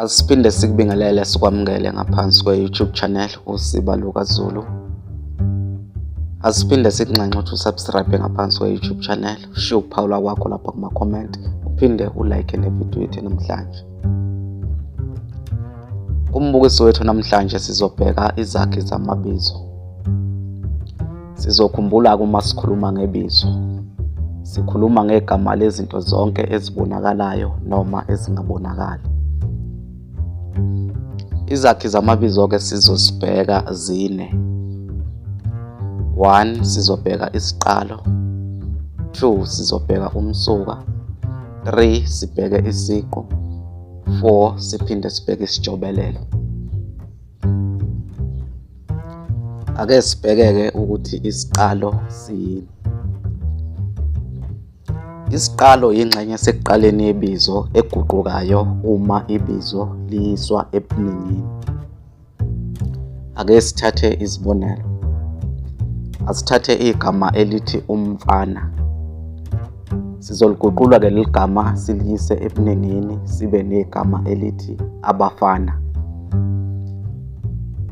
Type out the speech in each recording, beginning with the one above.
Asiphinde sikubingelele sikwamukele ngaphansi kwe-YouTube channel uSiba Luka Zulu. Asiphinde sikunxenxe ukuthi usubscribe ngaphansi kwe-YouTube channel, ushiye ukuphawula kwakho lapha kuma-comment, uphinde ulike nevidiyo yethu namhlanje. Kumbukiso wethu namhlanje sizobheka izakhi zamabizo. Sizokhumbula-ke uma sikhuluma ngebizo. Sikhuluma ngegama lezinto zonke ezibonakalayo noma ezingabonakali. Izakhi zamabizo-ke sizozibheka zine. One, sizobheka isiqalo. Two, sizobheka umsuka. Three, sibheke isiqu. Four, siphinde sibheke isijobelelo. ake sibhekeke ukuthi isiqalo siyini isiqalo yingxenye esekuqaleni yebizo eguqukayo uma ibizo liyiswa ebuningini ake sithathe izibonelo asithathe igama elithi umfana Sizoliguqula ke leli gama siliyise ebuningini sibe negama elithi abafana.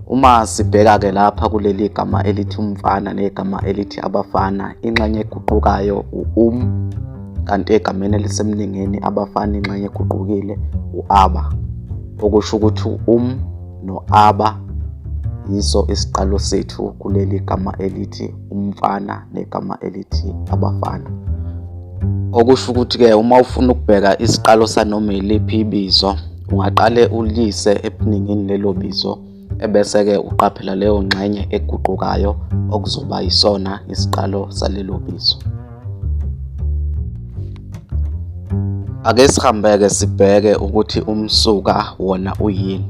Uma sibheka ke lapha kuleli gama elithi umfana negama elithi abafana, inxenye eguqukayo u-um kanti egameni elisemningini abafana inxenye eguqukile u-aba. Okusho ukuthi u-um no-aba yiso isiqalo sethu kuleli gama elithi umfana negama elithi abafana okusho ukuthi-ke uma ufuna ukubheka isiqalo sanoma iliphi ibizo ungaqale uliyise ebuningini lelo bizo ebese-ke uqaphela leyo ngxenye eguqukayo okuzoba yisona isiqalo salelo bizo Ake sihambeke sibheke ukuthi umsuka wona uyini.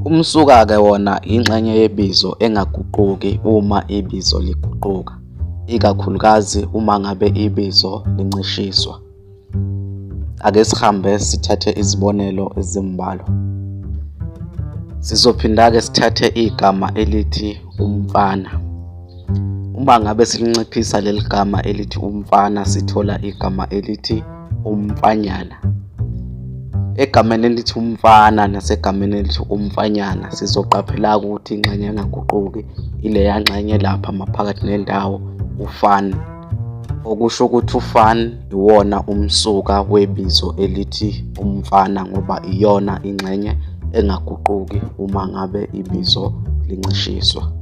Umsuka-ke wona yingxenye yebizo engaguquki uma ibizo liguquka, ikakhulukazi uma ngabe ibizo lincishiswa. Ake sihambe sithathe izibonelo ezimbalwa. Sizophinda-ke sithathe igama elithi umfana. Uma ngabe silinciphisa leli gama elithi umfana sithola igama elithi umfanyana. Egameni elithi umfana nasegameni elithi umfanyana sizoqaphela ukuthi ingxenye engaguquki ileya ngxenye lapha maphakathi nendawo ufana. okusho ukuthi ufan iwona umsuka webizo elithi umfana ngoba iyona ingxenye engaguquki uma ngabe ibizo lincishiswa.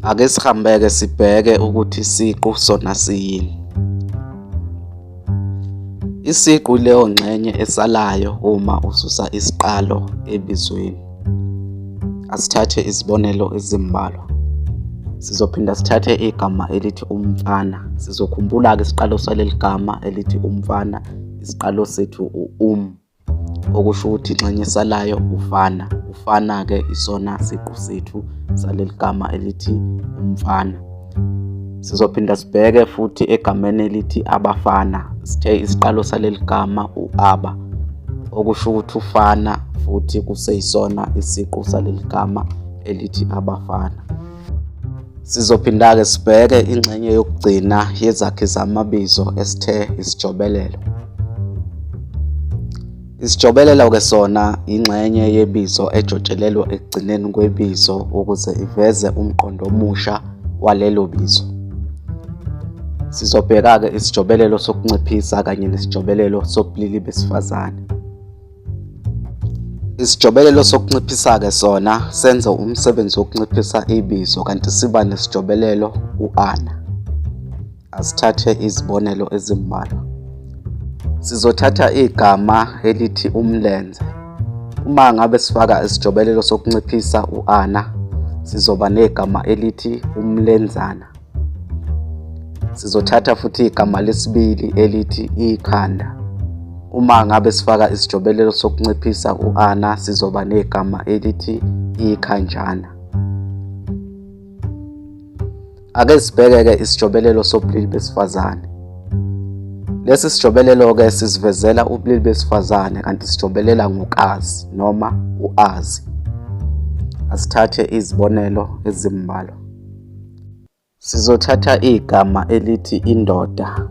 Ake sihambeke sibheke ukuthi isiqu sona siyini. Isiqu leyo ngxenye esalayo uma ususa isiqalo ebizweni. Asithathe izibonelo ezimbalwa. Sizophinda sithathe igama elithi umfana. Sizokhumbula-ke isiqalo saleli gama elithi umfana, isiqalo sethu u-um, okusho ukuthi inxenye salayo ufana. Ufana-ke isona siqu sethu saleli gama elithi umfana. Sizophinda sibheke futhi egameni elithi abafana. Sithe isiqalo saleli gama u-aba, okusho ukuthi ufana futhi kuseyisona isiqu saleli gama elithi abafana. Sizophinda-ke sibheke ingxenye yokugcina yezakhi zamabizo esithe isijobelelo. Isijobelelo-ke sona yingxenye yebizo ejotshelelwa ekugcineni kwebizo ukuze iveze umqondo omusha walelo bizo. Sizobheka-ke isijobelelo sokunciphisa kanye nesijobelelo sobulili besifazane. Isijobelelo sokunciphisa-ke sona senza umsebenzi wokunciphisa ibizo kanti siba nesijobelelo u-ana. Asithathe izibonelo ezimbalwa. Sizothatha igama elithi umlenze. Uma ngabe sifaka isijobelelo sokunciphisa u-ana, sizoba negama elithi umlenzana. Sizothatha futhi igama lesibili elithi ikhanda. Uma ngabe sifaka isijobelelo sokunciphisa u-ana, sizoba negama elithi ikhanjana. Ake sibheke-ke isijobelelo sobulili besifazane. Lesi sijobelelo-ke sizivezela ubulili besifazane kanti sijobelela ngokazi noma uazi. Asithathe izibonelo ezimbalwa. Sizothatha igama elithi indoda.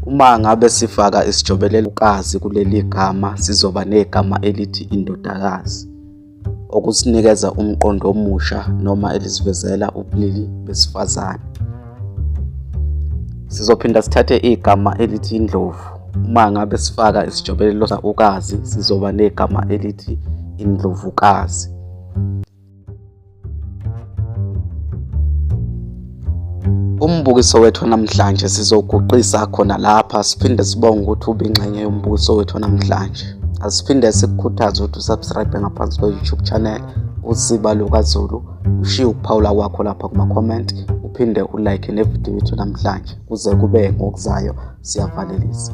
Uma ngabe sifaka isijobelelo ukazi kuleli gama sizoba negama elithi indodakazi. okusinikeza umqondo omusha noma elisivezela ubulili besifazane. Sizophinda sithathe igama elithi indlovu. Uma ngabe sifaka isijobelelo ukazi sizoba negama elithi indlovukazi. Umbukiso wethu namhlanje sizoguqisa khona lapha siphinde sibonge ukuthi ubingxenye yombukiso wethu namhlanje. Asiphinde sikukhuthaze ukuthi usubscribe ngaphansi kwe-YouTube channel usiba lukazulu ushiye ukuphawula kwakho lapha kuma-comment uphinde ulike nevidiyo yethu namhlanje kuze kube ngokuzayo siyavalelisa